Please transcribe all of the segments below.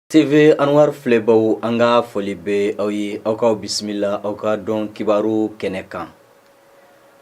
TV anwari filɛbaw an ka foli bɛ aw ye aw ka bisimila aw ka don kibaru kɛnɛ kan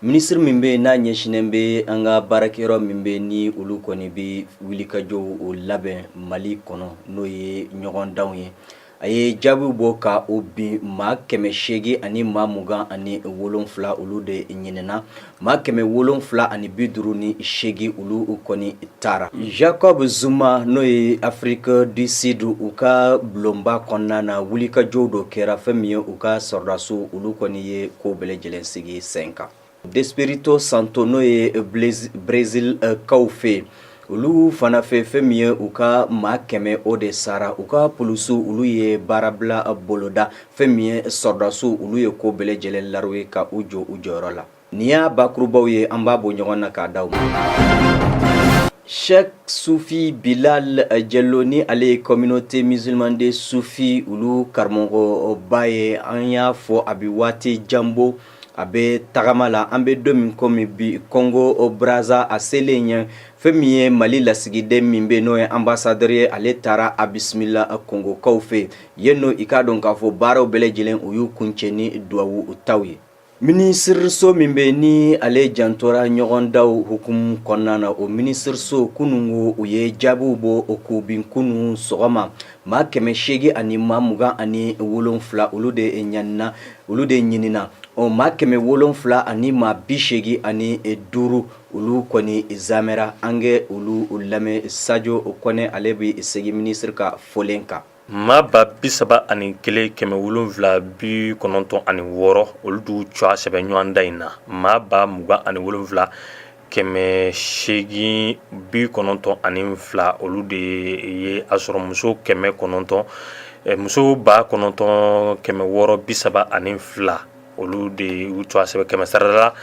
minisiri min bɛ n'a ɲɛsinnen bɛ an ka baarakɛyɔrɔ min bɛ ni olu kɔni bɛ wulikajɔw labɛn mali kɔnɔ n'o ye ɲɔgɔndanw ye a ye jaabiw bɔ ka o bin maa kɛmɛ seegin ani maa mugan ani wolonfila olu de ɲinina maa kɛmɛ wolonwula ani bi duuru ni seegin olu kɔni taara Jacob Zuma n'o ye Afrique du Sud u ka bulonba kɔnɔna na wulikajɔ dɔ kɛra fɛn min ye u ka sɔrɔdasiw olu kɔni ye ko bɛɛ lajɛlen sigi sen kan d'Espirito Santo n'o ye Brésilkaw fɛ yen olu fana fɛ fɛn min ye u ka maa kɛmɛ o de sara u ka polisiw olu ye baarabila boloda fɛn min ye sɔrɔdasiw olu ye ko bɛɛ lajɛlen la ye ka u jɔ u jɔyɔrɔ la nin y'a bakurubaw ye an b'a bɔ ɲɔgɔn na k'a da aw ma Cheikh Soufi Bilal Diallo ni ale ye communauté musulmane des soufis olu karamɔgɔba ye an y'a fɔ a bɛ waati jan bɔ a bɛ tagama la an bɛ don min kɔmi bi Congo Brazza a selen yen fɛn min ye mali lasigiden min bɛ n'o ye ambassadeur ye ale taara a bisimila kɔngokaw fɛ yen n'o i k'a dɔn k'a fɔ baaraw bɛɛ lajɛlen u y'u kuncɛ ni duwawu taw ye minisiriso min bɛ ni ale jantora ɲɔgɔndanw hukumu kɔnɔna na o minisiriso kunun u ye jaabiw bɔ k'u bin kunun sɔgɔma Maa kɛmɛ seegin ani maa mugan ani wolonfila olu de ɲanina olu de ɲinina ɔ maa kɛmɛ wolonfila ani maa bi seegin ani duuru olu kɔni zamera an ka olu lamɛn Sajo Kɔnɛ ale bɛ segin minisiri ka fɔlen kan maa ba bi saba ani kelen kɛmɛ wolonwula bi kɔnɔntɔn ani wɔɔrɔ olu de u tɔgɔ sɛbɛn ɲɔgɔndan in na maa ba mugan ani wolonwula kɛmɛ seegin bi kɔnɔntɔn ani fila olu de ye a sɔrɔ muso kɛmɛ kɔnɔntɔn muso ba kɔnɔntɔn kɛmɛ wɔɔrɔ bi saba ani fila olu de y'u tɔgɔ sɛbɛn kɛmɛ sarala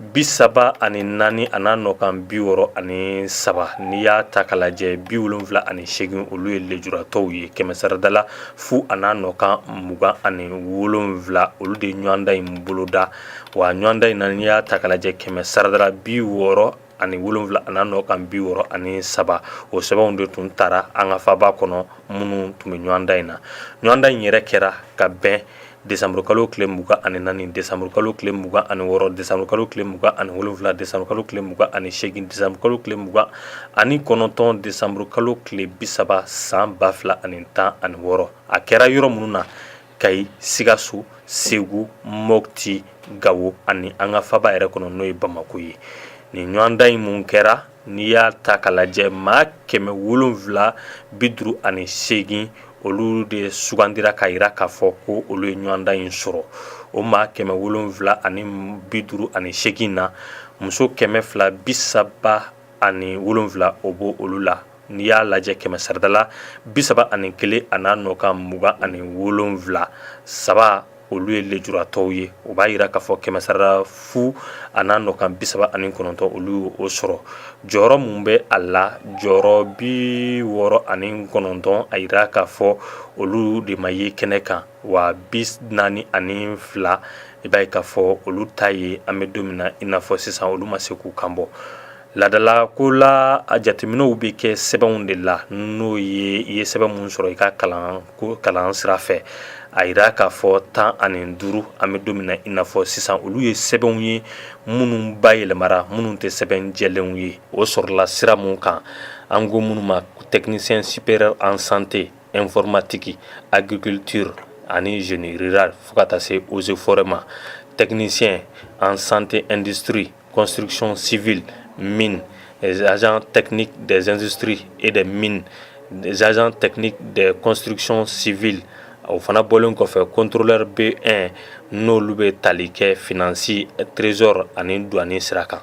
bi saba ani naani a n'a nɔkan bi wɔɔrɔ ani saba n'i y'a ta k'a lajɛ bi wolonwula ani seegin olu ye lejuratɔw ye kɛmɛ saradala fu a n'a nɔkan mugan ani wolonwula olu de ɲɔgɔndan in boloda wa ɲɔgɔndan in na n'i y'a ta k'a lajɛ kɛmɛ saradala bi wɔɔrɔ ani wolonwula a n'a nɔkan bi wɔɔrɔ ani saba o sɛbɛnw de tun taara an ka faba kɔnɔ minnu tun bɛ ɲɔgɔndan in na ɲɔgɔndan in yɛrɛ kɛra ka bɛn desanburukalo tile mugan ani naani desanburukalo tile mugan ani wɔɔrɔ desanburukalo tile mugan ani wolonwula desanburukalo tile mugan ani seegin desanburukalo tile mugan ani kɔnɔntɔn desanburukalo tile bi saba san ba fila ani tan ani wɔɔrɔ a kɛra yɔrɔ minnu na Kayi sikaso segu Mopti gawo ani an ka faba yɛrɛ kɔnɔ n'o ye bamakɔ ye nin ɲɔgɔndan in min kɛra n'i y'a ta k'a lajɛ maa kɛmɛ wolonwula bi duuru ani seegin olu de sugandira k'a jira k'a fɔ ko olu ye ɲɔgɔndan in sɔrɔ o maa kɛmɛ wolonwula ani bi duuru ani seegin na muso kɛmɛ fila bi saba ani wolonwula o b'olu la n'i y'a lajɛ kɛmɛ sarada la bi saba ani kelen a n'a nɔ kan mugan ani wolonwula saba olu ye lejuratɔw ye o b'a jira k'a fɔ kɛmɛ sarada fu a n'a nɔ kan bi saba ani kɔnɔntɔn olu ye o sɔrɔ jɔyɔrɔ min bɛ a la jɔyɔrɔ bi wɔɔrɔ ani kɔnɔntɔn a jira k'a fɔ olu de ma ye kɛnɛ kan wa bi naani ani fila i b'a ye k'a fɔ olu ta ye an bɛ don min na i n'a fɔ sisan olu ma se k'u kan bɔ Ladala ko la a jateminɛw bɛ kɛ sɛbɛnw de la n'o ye i ye sɛbɛn min sɔrɔ i ka kalan sira fɛ a jira k'a fɔ tan ani duuru an bɛ don min na i n'a fɔ sisan olu ye sɛbɛnw ye minnu bayɛlɛmara minnu tɛ sɛbɛn jɛlenw ye o sɔrɔla sira min kan an ko minnu ma technicien supérieur en santé informatique agriculture ani génie rural fo ka taa se eaux et forêts ma technicien en santé industrie Construction civile, mine, les agents techniques des industries et des mines, les agents techniques des constructions civiles, o fana bɔlen kɔfɛ contrôleur B1 n'olu bɛ tali kɛ finance, trésor ani douane sira kan.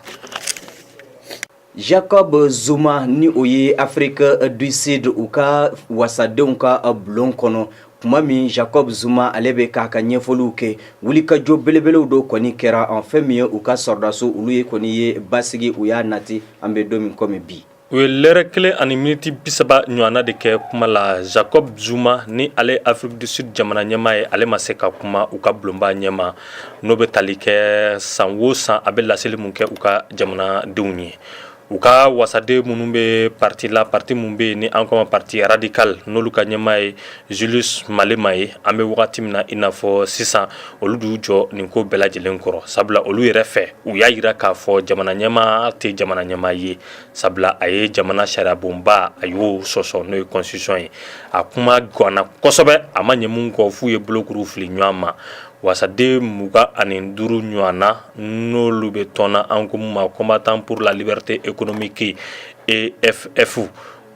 Jacob Zuma ni o ye Afrique du Sud u ka wasadenw ka bulon kɔnɔ tuma min Jacob Zuma ale bɛ k'a ka ɲɛfɔliw kɛ wulikajɔ belebelew dɔ kɔni kɛra en fɛn min ye u ka sɔrɔdasiw olu ye kɔni ye basigi u y'a nati an bɛ don min komi bi u ye lɛrɛ kelen ani miniti bisaba ɲɔgɔnna de kɛ kuma la jacob zuma ni ale afrique du sud jamana ɲɛmaa ye ale ma se ka kuma u ka bulonba ɲɛma n'o bɛ tali kɛ san o san a bɛ laseli min kɛ u ka jamanadenw ye U ka wasaden minnu bɛ pati la pati min bɛ yen ni an k'o ma parti radical n'olu ka ɲɛmaa ye Julius Malema ye an bɛ wagati min na i n'a fɔ sisan olu d'u jɔ nin ko bɛɛ lajɛlen kɔrɔ sabula olu yɛrɛ fɛ u y'a jira k'a fɔ jamana ɲɛmaa tɛ jamana ɲɛmaa ye sabula a ye jamana sariyabonba a y'o sɔsɔ n'o ye constitution ye a kuma ganna kosɛbɛ a ma ɲɛ min kɔ f'u ye bolokuru fili ɲɔgɔn ma wasaden mugan ani duuru ɲɔgɔnna n'olu bɛ tɔn na an ko min ma combattants pour la liberté économique EFF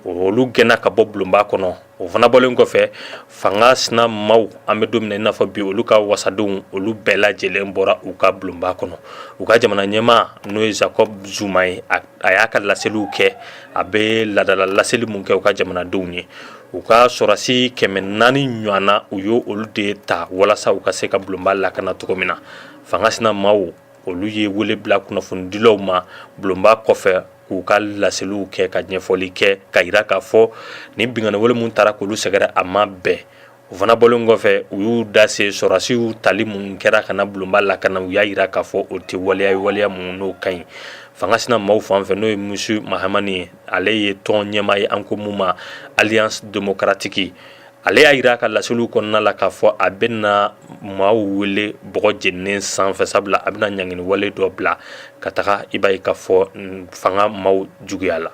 olu gɛnna ka bɔ bulonba kɔnɔ o fana bɔlen kɔfɛ fanga sinamaaw an bɛ don min na i n'a fɔ bi olu ka wasadenw olu bɛɛ lajɛlen bɔra u ka bulonba kɔnɔ u ka jamana ɲɛmaa n'o ye Jacob Zuma ye a a y'a ka laseliw kɛ a bɛ ladala laseli min kɛ u ka jamanadenw ye u ka sɔrɔsi kɛmɛ naani ɲɔgɔn na u y' olu de ta walasa u ka se ka bulonba lakana cogo min na fanga sina maaw olu ye wele bila kunnafonidilaw ma bulonba kɔfɛ k'u ka laseliw kɛ ka ɲɛfɔli kɛ ka jira k'a fɔ ni binkanni wale min taara k'olu sɛgɛrɛ a ma bɛn U fana bɔlen kɔfɛ u y'u da se sɔrɔsiw tali min kɛra ka na bulonba lakana, u y'a jira k'a fɔ o tɛ waleya ye waleya min n'o ka ɲi, fanga sina maaw fan fɛ n'o ye Mmusi Maimane ye, ale ye tɔn ɲɛmaa ye an ko min ma Alliance démocratique ale y'a jira a ka laseliw kɔnɔna la k'a fɔ a bɛna maaw wele bɔgɔ jeninen sanfɛ sabula a bɛna ɲangini wale dɔ bila ka taga i b'a ye k'a fɔ fanga maaw juguya la.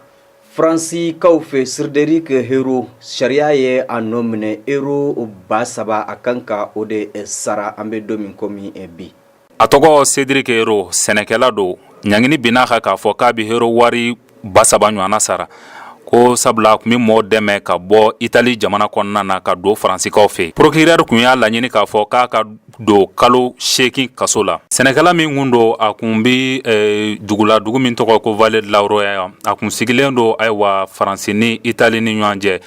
Faransikaw fɛ Cédric Herrou sariya ye a nɔ minɛ ero ba saba a kan ka o de sara an bɛ don min kɔmi bi a tɔgɔ Cédric Herrou sɛnɛkɛla don ɲangini binna a kan k'a fɔ k'a bɛ ero wari ba saba ɲɔgɔn na sara ko sabula kun bɛ mɔgɔ dɛmɛ ka bɔ itali jamana kɔnɔna na ka don faransikaw fɛ procureur kun y'a laɲini k'a fɔ k'a ka don kalo seegin kaso la sɛnɛkɛla min kun don a kun bɛ eh, dugula dugu min tɔgɔ ko Vallée de la Roya a kun sigilen don ayiwa faransi ni itali ni ɲɔgɔn cɛ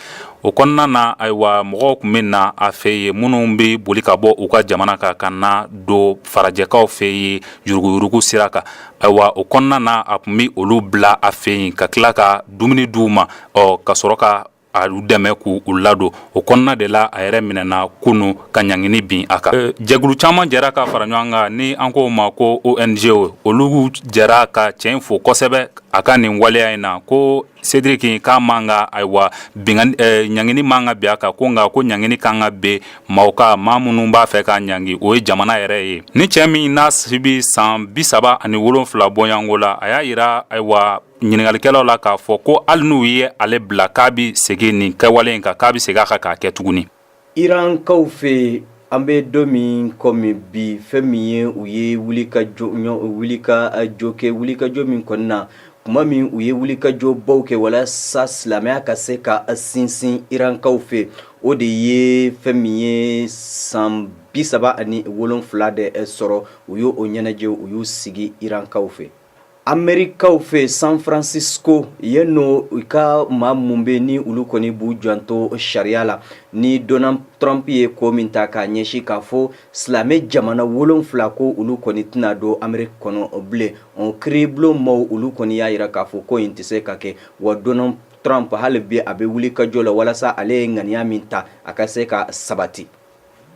o kɔnɔna na ayiwa mɔgɔw kun bɛ na a fɛ yen minnu bɛ boli ka bɔ u ka jamana kan ka na don farajɛkaw fɛ yen yuruguyurugu sira kan ayiwa o kɔnɔna na a kun bɛ olu bila a fɛ yen ka tila ka dumuni di u ma ɔ ka sɔrɔ ka a u dɛmɛ k' u ladon o kɔnɔna de la a yɛrɛ minɛna kunun ka ɲangini bin a kan jɛkulu caman jɛra ka fara ɲɔgɔn kan ni an ko ma ko ONG olu jɛra ka cɛ in fo kosɛbɛ a ka nin waleya in na ko Cédric k'a man kan ayiwa ɲangini man kan ka bin a kan ko nka ko ɲangini ka kan ka bin maaw kan maa minnu b'a fɛ k'a ɲangi o ye jamana yɛrɛ ye ni cɛ min n'a si bɛ san bi saba ani wolonfila bɔɲɔgɔnko la a y'a jira ayiwa ɲininkalikɛlaw la k'a fɔ ko hali n'u ye ale bila k'a bɛ segin nin kɛwale in kan k'a bɛ segin a kan k'a kɛ tuguni. irankaw fɛ an bɛ don min kɔmi bi fɛn min ye u ye wulikajɔ wulikajɔ kɛ wulikajɔ min kɔni na tuma min u ye wulikajɔ baw kɛ walasa silamɛya ka se ka sinsin irankaw fɛ o de ye fɛn min ye san bi saba ani wolonfila de sɔrɔ u y'o ɲɛnajɛ u y'u sigi irankaw fɛ. Amerikaw fɛ San Francisco yen n'o u ka maa minnu bɛ ni olu kɔni b'u janto sariya la ni Donald Trump ye ko min ta k'a ɲɛsin k'a fɔ silamɛ jamana wolonfila ko olu kɔni tɛna don Ameriki kɔnɔ bilen o kiiribulon maaw olu kɔni y'a jira k'a fɔ ko in tɛ se ka kɛ wa Donald Trump hali bi a bɛ wulikajɔ la walasa ale ye ŋaniya min ta a ka se ka sabati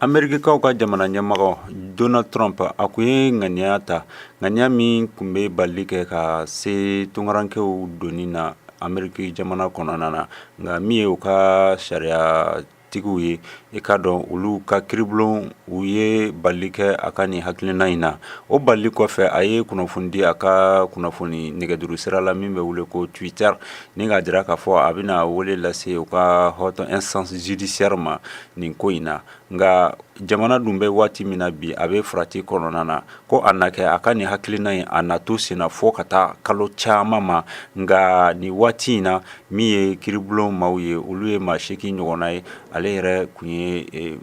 Amerikikaw ka jamana ɲɛmɔgɔ Donald Trump a kun ye ŋaniya ta ŋaniya min kun bɛ balili kɛ ka se tunkarankɛw donni na Ameriki jamana kɔnɔna na nka min ye u ka sariyatigiw ye i k'a dɔn olu ka kiiribulon u ye balili kɛ a ka nin hakilina in na o balili kɔfɛ a ye kunnafoni di a ka kunnafoni nɛgɛjuru sira la min bɛ wele ko Twitter ni k'a jira k'a fɔ a bɛna wele lase u ka haute instance judiciaire ma nin ko in na nka jamana dun bɛ waati min na bi a bɛ farati kɔnɔna na ko a na kɛ a ka nin hakilina in a na to senna fɔ ka taa kalo caman ma nka nin waati in na min ye kiiribulon maaw ye olu ye maa seegin ɲɔgɔnna ye ale yɛrɛ kun ye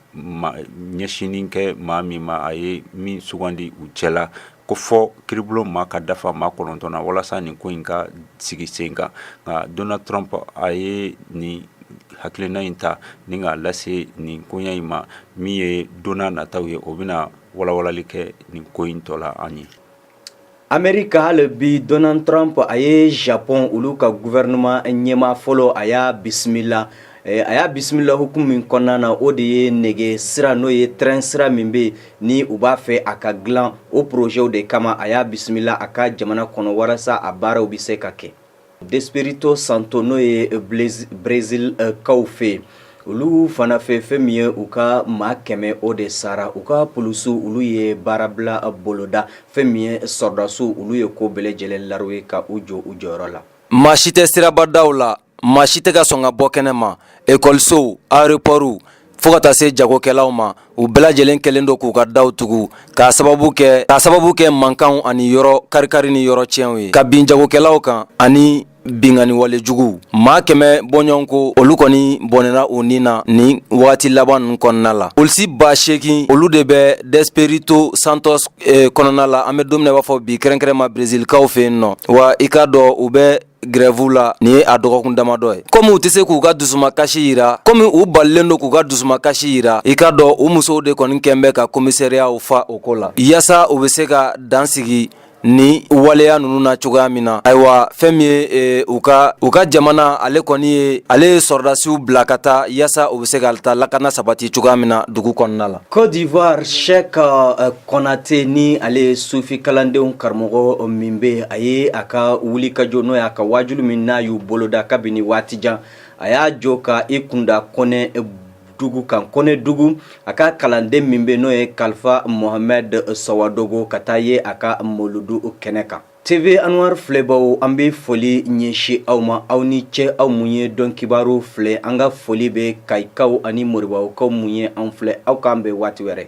ɲɛsinni kɛ maa min ma a ye min sugandi u cɛ la ko fɔ kiiribulon maa ka dafa maa kɔnɔntɔn na walasa nin ko in ka sigi sen kan nka Donald Trump a ye nin hakilina in ta ni k'a lase nin koɲa in ma min ye donna nataw ye o bɛna walawalali kɛ nin ko in tɔ la an ye Amerika hali bi Donald Trump a ye Japon olu ka gouvernement ɲɛmaa fɔlɔ a y'a bisimila a y'a bisimila hukumu min kɔnɔna na o de ye nɛgɛ sira n'o ye train sira min bɛ yen ni u b'a fɛ a ka dilan o porozɛw de kama a y'a bisimila a ka jamana kɔnɔ walasa a baaraw bɛ se ka kɛ d'Espirito Santo n'o ye Brezilikaw fɛ yen olu fana fɛ fɛn min ye u ka maa kɛmɛ o de sara u ka polisiw olu ye baarabila boloda fɛn min ye sɔrɔdasiw olu ye ko bɛɛ lajɛlen la ye ka u jɔ u jɔyɔrɔ la maa si tɛ sirabadaw la Maa si tɛ ka sɔn ka bɔ kɛnɛ ma ekɔlisow aéroportw fo ka taa se jagokɛlaw ma u bɛɛ lajɛlen kɛlen don k'u ka daw tugu k'a sababu kɛ mankanw ani yɔrɔ kari-kari ni yɔrɔ tiɲɛw ye ka bin jagokɛlaw kan ani binkanni walejuguw maa kɛmɛ bɔɲɔgɔn ko olu kɔni bɔnɛna u ni na ni wagati laban ninnu kɔnɔna la polisi ba seegin olu de bɛ d'Espirito Santo kɔnɔna la an bɛ don min na i b'a fɔ bi kɛrɛnkɛrɛnma brezilikaw fɛ yen nɔ wa i k'a dɔn u bɛ grève la nin ye a dɔgɔkun damadɔ ye komi u tɛ se k'u ka dusuma kasi yira komi u balilen don k'u ka dusuma kasi yira i ka dɔn u musow de kɔni kɛn bɛ ka komisariyaw fa o ko la yaasa u bɛ se ka dan sigi ni waleya ninnu na cogoya min na ayiwa fɛn min ye e, u ka u ka jamana ale kɔni ye ale ye sɔrɔdasiw bila ka taa yaasa u bɛ se ka taa lakana sabati cogoya min na dugu kɔnɔna la Côte d'Ivoire chèque euh, Kɔnatɛ ni ale ye sufi kalandenw karamɔgɔ min bɛ a ye a ka wulikajɔ n'o y'a ka waajuliw min n'a y'u boloda kabini waati jan a y'a jɔ ka i kunda Kɔnɛdugu kan Kɔnɛdugu a ka kalanden min bɛ n'o ye Kalifa Muhamɛdi Sawadogo ka taa ye a ka moludu kɛnɛ kan TV Anwar filɛbaw an bɛ foli ɲɛsin aw ma aw ni ce aw minnu ye don kibaru filɛ an ka foli bɛ Kayikaw ani Moribabugukaw minnu ye an filɛ aw k'an bɛn waati wɛrɛ